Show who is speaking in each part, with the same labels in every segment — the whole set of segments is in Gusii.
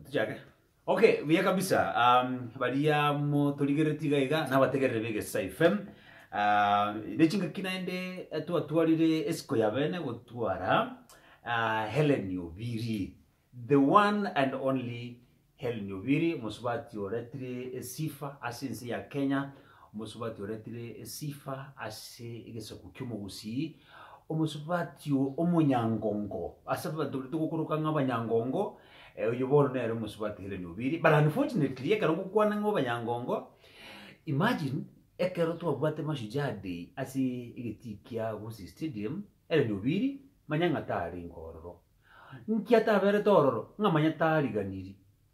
Speaker 1: Tuchake. Okay, buya kabisa. Um, baria motorigeretie iga iga nabategerere b'Egesesa FM. Uh, nechingaki naende eh, twatwarire esiko ya bene gotwara uh, Helen Obiri. The one and only Helen Obiri, mosubati oretire esifa ase ense ya Kenya. Omosubati oretire esifa ase egesaku ki'omogusii, omosubati omonyangongo ase abanto baria togokoroka ng'a abanyangongo, oyio bono nere omosubati Hellen Obiri, but unfortunately ekero ngokwana ng'a abanyangongo, imagine ekero twabwate Mashujaa Day ase egetii kia Gusii Stadium, Hellen Obiri manya ng'a tarenge ororo. Nki ataberete ororo? Ng'a manya tariganiri.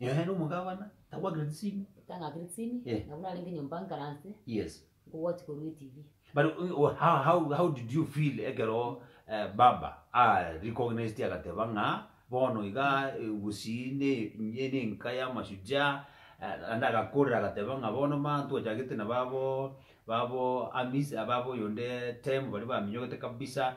Speaker 2: Ehe, na omogabana
Speaker 1: tagwakire tisini. Tang'akire tisini, Eh.
Speaker 2: nabwo narenge nyomba nkaranse, Yes. nkogochi
Speaker 1: korwa eTV.
Speaker 2: But uh, uh,
Speaker 1: how, how, how did you feel ekero eh, baba a recognized agateba ng'a bono iga eh, Gusii ne ne- nenka ya mashujaa eh, naende agakorera agateba ng'a bono ma twachagete na babo babo Amis eh, babo oyonde Tem baria baminyogete kabisa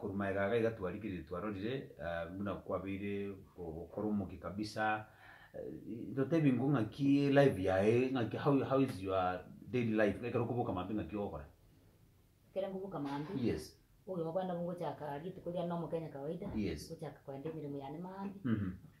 Speaker 1: Korwa magega aga iga twarikire twarorire buna kwabeire gokora omokia kabisa totebi nko ngaki life yaye ngaki how how is your daily life ekero okoboka maambia ngaki ogokora. Ekero
Speaker 2: nkoboka maambia. Yes. Obogima
Speaker 1: bwane nabo
Speaker 2: ngochaka rituko riane na omokenya kawaida. Yes. Ngochaka kogenda
Speaker 1: emeremo
Speaker 2: yane maambia.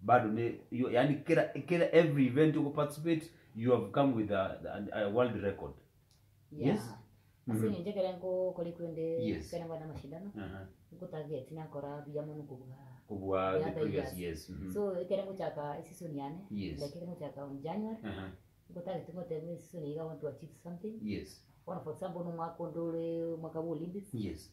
Speaker 1: Bado ne yo yaani kera kera every event you participate you have come with a, a, a world record. Yeah. Yes. Ase Mhm.
Speaker 2: eng'encho ekero nkokori kwende Yes. ekero ngokora amashindano Aha. nkotageti nakora buya mono kobua Kobua the
Speaker 1: the other previous years. years. Mhm. so ekero ngochaka
Speaker 2: eseason yane Yes. like ekero ngochaka
Speaker 1: on January
Speaker 2: Aha. nkotageti ngoteba eseason eye I want to achieve something Yes. bono for
Speaker 1: example bono
Speaker 2: omwaka onde ore omwaka bwa Olympics Yes.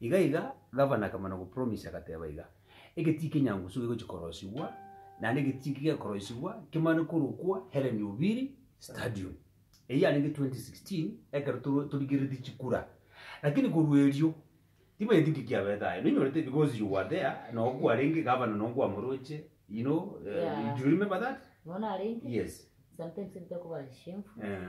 Speaker 1: Iga iga gavana akamana gopromisia, agateba iga, Egetii kenyangusu gegochia korosigwa, naende egetii eki gekoroisigwa kemane korokwa Hellen Obiri Stadium. Eyio yarenge 2016 ekero toro- torigereretie chikura. Lakini korwa erio, timanyeti nki kiabete aye. Ninyorete because you were there, nogo kwarenge gavana nogo kwamoroche, you know, eh, Yeah. do you remember that? Nonarenge Yes.
Speaker 2: sometimes
Speaker 1: ntekobara
Speaker 2: chishiemfu Eh.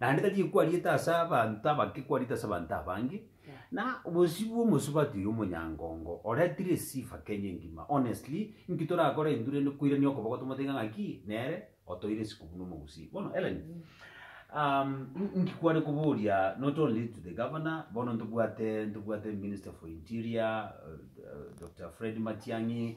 Speaker 1: Naende tari ekwariete ase abanto abake ekwarete ase abanto abange, na bosio bw'omosubati oyo omonyangongo oretire esifa Kenya engima. Honestly, inki torakore intwe rende koirania okoboko tomoteige ng'aki nere otoire isiko buna omogusii? Bono Ellen, um, in- inki kware koboria not only to the governor, bono ntobwate ntobwate minister for interior, uh, uh, Dr. Fred Matiang'i,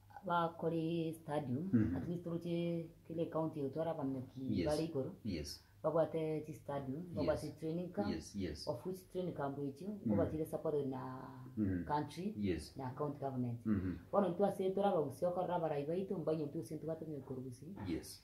Speaker 2: Abakore stadium, at least toroche kera ecounty egotware abaminyoki Yes. bare igoro, Yes. babwate chistadium, babwate Yes. training camp, Yes, yes. of which training camp echio nkobachire supported na Mhm. country Yes. na county government. Mhm. Bono intwe ase tore abagusi okorora abarai baito, mbainyontwe gose ntobwate omonyoki korwa gusii, Yes.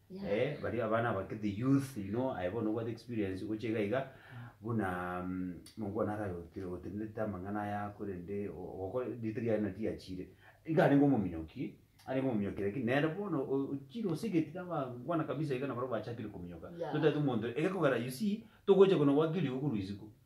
Speaker 1: Eeh baria abana abake the youth you know aye bono obwate experience gocha iga iga buna mongo one ara otenenete amang'ana aya korende ogokora ritari yaye nari riachire iga arenge omominyoki arenge omominyoki lakini nere bono ochire osegete abangwana kabisa iga nabarabwo bachakire kominyoka so tari omonto egekogera you see togocha konagoakire igo korwa isiko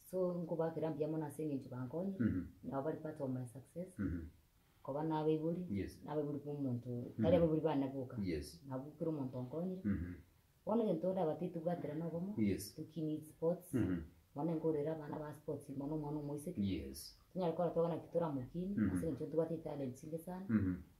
Speaker 2: So nkobakera mbuya mono ase eng'encho bankonye, Mhm. nabo bari part of my success, Mhm. koba nabaibori, Yes. nabaibori bomonto, tari abaibori bane boka, Yes. nabo kera omonto onkonyire. Mhm. Bono egento ndabate tibwatera nobomo, Yes. tukini sports, Mhm. mono nkorera abana ba sports, mono omwana omoiseke, Yes. tonyare gokora twabana pi toramokini, Mhm. ase eng'encho ntobwate talent chinge sana, Mhm.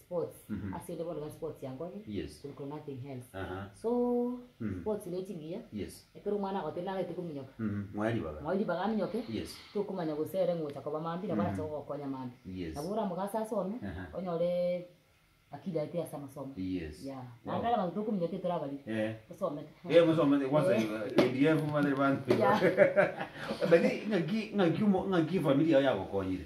Speaker 2: Sports Mhm. ase inde bono iga sports yankonye Yes. kuliko nothing else. Aha. So Mhm. sports ne chibuya Yes. ekero omwana agotebi nagete kominyoka Mhm. Mwae ribaga. mwae ribaga aminyoke Yes. tokomanya gose ere ngocha koba mambi nabo arache gogokonya mambi. Yes. Nabo oramogase asome Aha. onyore akili aye teri ase amasomo. Yes. Yeah. Wow. Naende are abanto tokominyoka teri torabariri. Eh. Tosomete. Eh, mosomete kwanza Eh. KDF mare bantu. Yeah.
Speaker 1: Lakini ng'aki ng'aki omo ng'aki efamiri yao yagokonyire.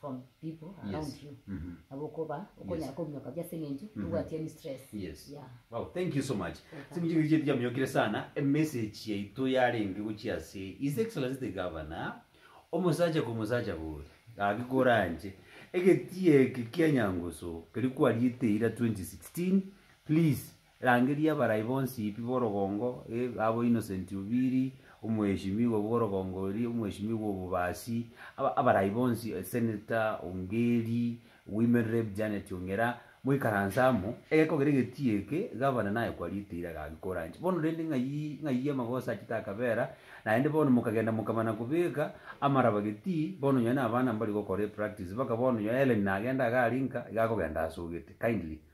Speaker 2: from people around Yes. you Mhm. nabo okoba okonyara Yes. kominyoka buya ase eng'encho Mhm. tobwati any stress Yes. yeah Wow,
Speaker 1: thank you so much. Welcome. Simuchiko iche tichaminyokire sana emessage yaito yarenge gochia ase His Excellency the Governor omosacha kwa omosacha boria gaki koranche egetie eke kia Nyangusu keri kwariete eira 2016 please Rangeria abarai bonsi pi borogongo eh, abo innocent obiri, omoeshimigwa bworogongo oria, omoeshimigwa obobasi, aba abarai bonsi, Senator Ongeri, Women Rep Janet Ongera, moikaranse amo, egeko kere egetii eke, Gavana naye kwariete ira agagikora nche. Bono rende ng'ai ng'ai amagoso achete akabera, naende bono mokagenda mokamana kobeka amaraba getii, bono nonye na abana mbari gokora epractice, baka bono nonye Hellen nagenda iga ari nka, iga akogenda asogete, kindly.